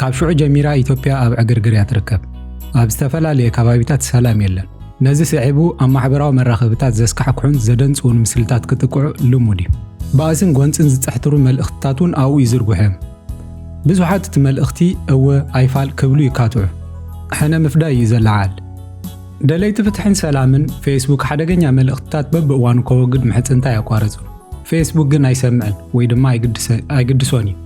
ካብ ሽዑ ጀሚራ ኢትዮጵያ ኣብ ዕግርግር እያ ትርከብ። ኣብ ዝተፈላለየ ከባቢታት ሰላም የለን። ነዚ ስዒቡ ኣብ ማሕበራዊ መራኸብታት ዘስካሕክሑን ዘደንጽውን ምስልታት ክጥቅዑ ልሙድ እዩ። ባእስን ጎንጽን ዝጸሕትሩ መልእኽትታት እውን ኣብኡ ይዝርግሑ እዮም። ብዙሓት እቲ መልእኽቲ እወ ኣይፋል ክብሉ ይካትዑ። ሕነ ምፍዳይ እዩ ዘለዓል። ደለይቲ ፍትሕን ሰላምን ፌስቡክ ሓደገኛ መልእኽትታት በብእዋኑ ከወግድ ምሕጽንታ ኣየቋረጹን። ፌስቡክ ግን ኣይሰምዕን ወይ ድማ ኣይግድሶን እዩ።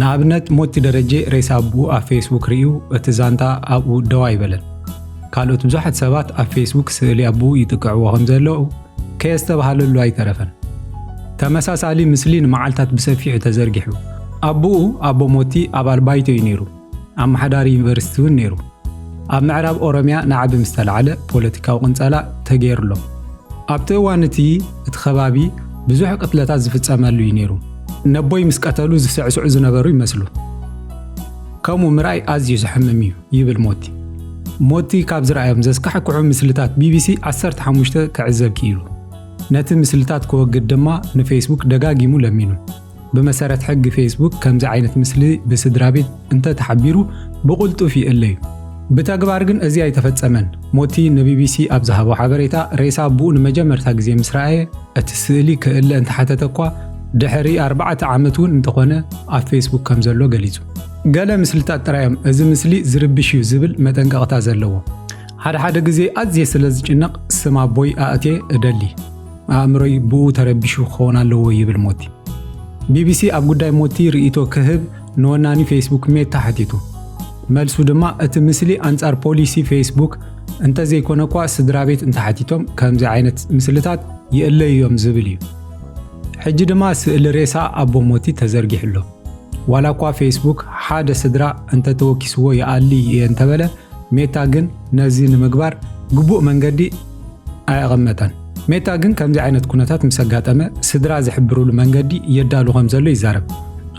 ንኣብነት ሞቲ ደረጀ ሬሳ ኣቡኡ ኣብ ፌስቡክ ርእዩ እቲ ዛንታ ኣብኡ ደው ኣይበለን። ካልኦት ብዙሓት ሰባት ኣብ ፌስቡክ ስእሊ ኣቡኡ ይጥቅዕዎ ከም ዘለዉ ከየስተብሃለሉ ኣይተረፈን። ተመሳሳሊ ምስሊ ንመዓልታት ብሰፊሑ ተዘርጊሑ። ኣቡኡ፣ ኣቦ ሞቲ፣ ኣባል ባይቶ እዩ ነይሩ። ኣመሓዳሪ ዩኒቨርሲቲ እውን ነይሩ። ኣብ ምዕራብ ኦሮምያ ናዕቢ ምስ ተላዕለ ፖለቲካዊ ቅንጸላ ተገይሩሎ። ኣብቲ እዋን እቲ እቲ ከባቢ ብዙሕ ቅትለታት ዝፍጸመሉ እዩ ነይሩ። ነቦይ ምስ ቀተሉ ዝስዕስዑ ዝነበሩ ይመስሉ። ከምኡ ምርኣይ ኣዝዩ ዘሕምም እዩ ይብል ሞቲ። ሞቲ ካብ ዝረኣዮም ዘስካሕክሑ ምስልታት ቢቢሲ 15 ክዕዘብ ክኢሉ። ነቲ ምስልታት ክወግድ ድማ ንፌስቡክ ደጋጊሙ ለሚኑ። ብመሰረት ሕጊ ፌስቡክ ከምዚ ዓይነት ምስሊ ብስድራቤት እንተተሓቢሩ ብቕልጡፍ ይእለ እዩ። ብተግባር ግን እዚ ኣይተፈጸመን። ሞቲ ንቢቢሲ ኣብ ዝሃቦ ሓበሬታ፣ ሬሳ ኣቦኡ ንመጀመርታ ግዜ ምስ ረኣየ እቲ ስእሊ ክእለ እንተሓተተ እኳ ድሕሪ ኣርባዕተ ዓመት እውን እንተኾነ ኣብ ፌስቡክ ከም ዘሎ ገሊጹ። ገለ ምስልታት ጥራይ እዮም እዚ ምስሊ ዝርብሽ እዩ ዝብል መጠንቀቕታ ዘለዎም። ሓደ ሓደ ግዜ ኣዝየ ስለ ዝጭነቕ ስም ኣቦይ ኣእትየ እደሊ። ኣእምሮይ ብኡ ተረቢሹ ክኸውን ኣለዎ ይብል ሞቲ። ቢቢሲ ኣብ ጉዳይ ሞቲ ርእይቶ ክህብ ንወናኒ ፌስቡክ ሜታ ሓቲቱ። መልሱ ድማ እቲ ምስሊ ኣንጻር ፖሊሲ ፌስቡክ እንተዘይኮነ እኳ ስድራቤት እንተሓቲቶም ከምዚ ዓይነት ምስልታት ይእለዩ እዮም ዝብል እዩ። ሕጂ ድማ ስእሊ ሬሳ ኣቦ ሞቲ ተዘርጊሑ ኣሎ። ዋላ እኳ ፌስቡክ ሓደ ስድራ እንተተወኪስዎ ይኣሊ እየ እንተበለ ሜታ ግን ነዚ ንምግባር ግቡእ መንገዲ ኣየቐመጠን። ሜታ ግን ከምዚ ዓይነት ኩነታት ምስ ኣጋጠመ ስድራ ዝሕብርሉ መንገዲ የዳሉ ከም ዘሎ ይዛረብ።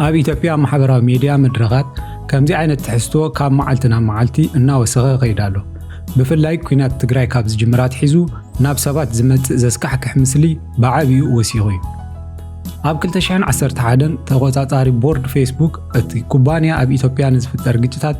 ኣብ ኢትዮጵያ ማሕበራዊ ሜድያ መድረኻት ከምዚ ዓይነት ትሕዝቶ ካብ መዓልቲ ናብ መዓልቲ እናወሰኸ ይኸይድ ኣሎ። ብፍላይ ኲናት ትግራይ ካብ ዝጅምር ኣትሒዙ ናብ ሰባት ዝመጽእ ዘስካሕክሕ ምስሊ ብዓብይኡ ወሲኹ እዩ። ኣብ 2011 ተቖጻጻሪ ቦርድ ፌስቡክ እቲ ኩባንያ ኣብ ኢትዮጵያ ንዝፍጠር ግጭታት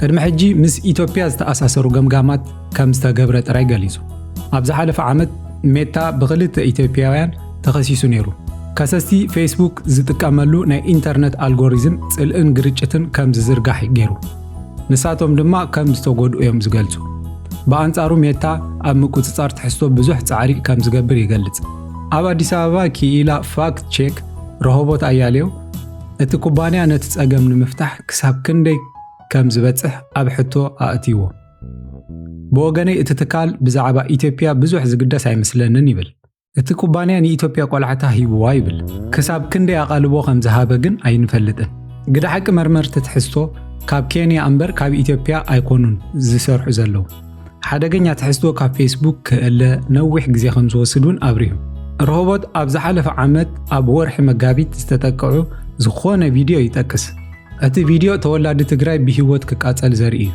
ቅድሚ ሕጂ ምስ ኢትዮጵያ ዝተኣሳሰሩ ገምጋማት ከም ዝተገብረ ጥራይ ገሊጹ። ኣብ ዝሓለፈ ዓመት ሜታ ብኽልተ ኢትዮጵያውያን ተኸሲሱ ነይሩ። ከሰስቲ ፌስቡክ ዝጥቀመሉ ናይ ኢንተርነት ኣልጎሪዝም ጽልእን ግርጭትን ከም ዝዝርጋሕ ገይሩ፣ ንሳቶም ድማ ከም ዝተጎድኡ እዮም ዝገልጹ። ብኣንጻሩ ሜታ ኣብ ምቁጽጻር ትሕዝቶ ብዙሕ ጻዕሪ ከም ዝገብር ይገልጽ። ኣብ ኣዲስ ኣበባ ክኢላ ፋክት ቼክ ረሆቦት ኣያሌው እቲ ኩባንያ ነቲ ጸገም ንምፍታሕ ክሳብ ክንደይ ከም ዝበጽሕ ኣብ ሕቶ ኣእትይዎ። ብወገነይ እቲ ትካል ብዛዕባ ኢትዮጵያ ብዙሕ ዝግደስ ኣይመስለንን ይብል። እቲ ኩባንያ ንኢትዮጵያ ቆላሕታ ሂብዋ ይብል። ክሳብ ክንደይ ኣቓልቦ ከም ዝሃበ ግን ኣይንፈልጥን። ግደ ሓቂ መርመርቲ ትሕዝቶ ካብ ኬንያ እምበር ካብ ኢትዮጵያ ኣይኮኑን ዝሰርሑ ዘለዉ። ሓደገኛ ትሕዝቶ ካብ ፌስቡክ ክእለ ነዊሕ ግዜ ከም ዝወስድ እውን ኣብሪሁ። ሮሆቦት ኣብ ዝሓለፈ ዓመት ኣብ ወርሒ መጋቢት ዝተጠቅዑ ዝኾነ ቪድዮ ይጠቅስ። እቲ ቪድዮ ተወላዲ ትግራይ ብሂወት ክቃጸል ዘርኢ እዩ።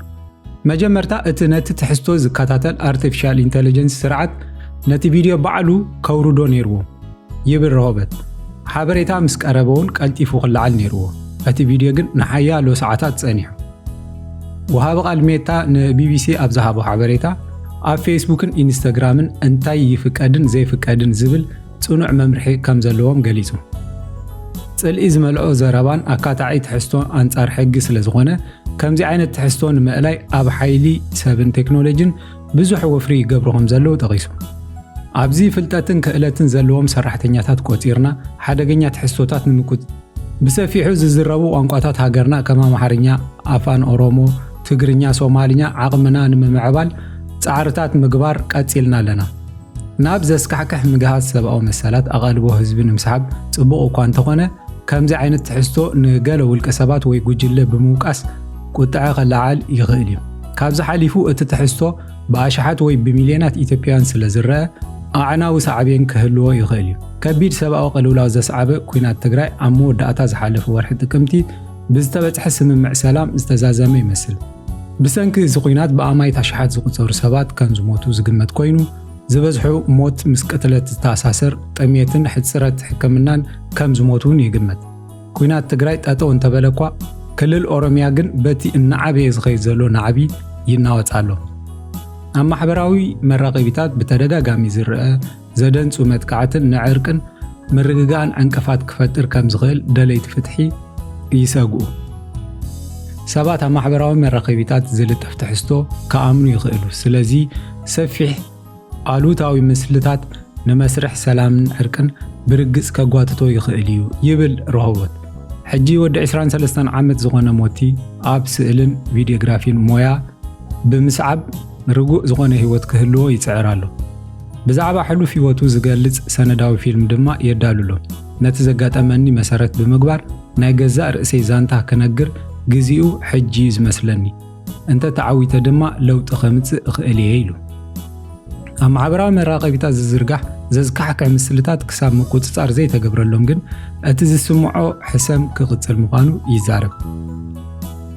መጀመርታ እቲ ነቲ ትሕዝቶ ዝከታተል ኣርቲፊሻል ኢንተለጀንስ ስርዓት ነቲ ቪድዮ ባዕሉ ከውርዶ ነይርዎ ይብል ረሆበት። ሓበሬታ ምስ ቀረበውን ቀልጢፉ ክለዓል ነይርዎ፣ እቲ ቪድዮ ግን ንሓያሎ ሰዓታት ጸኒሑ። ወሃቢ ቃል ሜታ ንቢቢሲ ኣብ ዝሃቦ ሓበሬታ፣ ኣብ ፌስቡክን ኢንስታግራምን እንታይ ይፍቀድን ዘይፍቀድን ዝብል ጽኑዕ መምርሒ ከም ዘለዎም ገሊጹ። ጽልኢ ዝመልኦ ዘረባን ኣካታዒ ትሕዝቶ ኣንጻር ሕጊ ስለ ዝኾነ፣ ከምዚ ዓይነት ትሕዝቶ ንምእላይ ኣብ ሓይሊ ሰብን ቴክኖሎጂን ብዙሕ ወፍሪ ይገብሩ ከም ዘለዉ ጠቒሱ። ኣብዚ ፍልጠትን ክእለትን ዘለዎም ሰራሕተኛታት ቆጺርና ሓደገኛ ትሕዝቶታት ንምቁጽጻር፣ ብሰፊሑ ዝዝረቡ ቋንቋታት ሃገርና ከም ኣምሓርኛ፣ ኣፋን ኦሮሞ፣ ትግርኛ፣ ሶማልኛ ዓቕምና ንምምዕባል ጻዕርታት ምግባር ቀጺልና ኣለና። ናብ ዘስካሕክሕ ምግሃስ ሰብኣዊ መሰላት ኣቓልቦ ህዝቢ ንምስሓብ ጽቡቕ እኳ እንተኾነ፣ ከምዚ ዓይነት ትሕዝቶ ንገለ ውልቀ ሰባት ወይ ጉጅለ ብምውቃስ ቁጥዐ ከለዓዕል ይኽእል እዩ። ካብዚ ሓሊፉ እቲ ትሕዝቶ ብኣሽሓት ወይ ብሚልዮናት ኢትዮጵያውያን ስለ ዝረኣ ኣዕናዊ ሳዕቤን ክህልዎ ይኽእል እዩ። ከቢድ ሰብኣዊ ቅልውላው ዘስዓበ ኲናት ትግራይ ኣብ መወዳእታ ዝሓለፈ ወርሒ ጥቅምቲ ብዝተበጽሐ ስምምዕ ሰላም ዝተዛዘመ ይመስል። ብሰንኪ እዚ ኲናት ብኣማኢት ኣሽሓት ዝቑጸሩ ሰባት ከም ዝሞቱ ዝግመት ኮይኑ፣ ዝበዝሑ ሞት ምስ ቅትለት ዝተኣሳሰር፣ ጥሜትን ሕጽረት ሕክምናን ከም ዝሞቱ እውን ይግመት። ኲናት ትግራይ ጠጠው እንተበለ እኳ ክልል ኦሮሚያ ግን በቲ እናዓበየ ዝኸይድ ዘሎ ናዕቢ ይናወፅ ኣሎ። ኣብ ማሕበራዊ መራኸቢታት ብተደጋጋሚ ዝርአ ዘደንጹ መጥቃዕትን ንዕርቅን ምርግጋእን ዕንቅፋት ክፈጥር ከም ዝኽእል ደለይቲ ፍትሒ ይሰግኡ። ሰባት ኣብ ማሕበራዊ መራኸቢታት ዝልጠፍ ትሕዝቶ ክኣምኑ ይኽእሉ። ስለዚ ሰፊሕ ኣሉታዊ ምስልታት ንመስርሕ ሰላምን ዕርቅን ብርግጽ ከጓትቶ ይኽእል እዩ ይብል ሮሆቦት። ሕጂ ወዲ 23 ዓመት ዝኾነ ሞቲ ኣብ ስእልን ቪድዮግራፊን ሞያ ብምስዓብ ርጉእ ዝኾነ ህይወት ክህልዎ ይጽዕር ኣሎ። ብዛዕባ ሕሉፍ ህይወቱ ዝገልጽ ሰነዳዊ ፊልም ድማ የዳሉ ኣሎ። ነቲ ዘጋጠመኒ መሰረት ብምግባር ናይ ገዛእ ርእሰይ ዛንታ ክነግር ግዜኡ ሕጂ'ዩ ዝመስለኒ። እንተ ተዓዊተ ድማ ለውጢ ከምጽእ እኽእል እየ ኢሉ። ኣብ ማሕበራዊ መራኸቢታት ዝዝርጋሕ ዘዝካሕክሕ ምስልታት ክሳብ ምቁጽጻር ዘይተገብረሎም ግን እቲ ዝስምዖ ሕሰም ክቕጽል ምዃኑ ይዛረብ።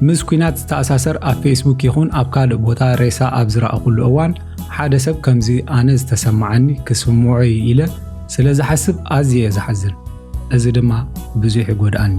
ምስ ኩናት ዝተኣሳሰር ኣብ ፌስቡክ ይኹን ኣብ ካልእ ቦታ ሬሳ ኣብ ዝረኣኹሉ እዋን ሓደ ሰብ ከምዚ ኣነ ዝተሰማዓኒ ክስምዖ እዩ ኢለ ስለ ዝሓስብ ኣዝየ እየ ዝሓዝን፣ እዚ ድማ ብዙሕ ይጎድኣኒ።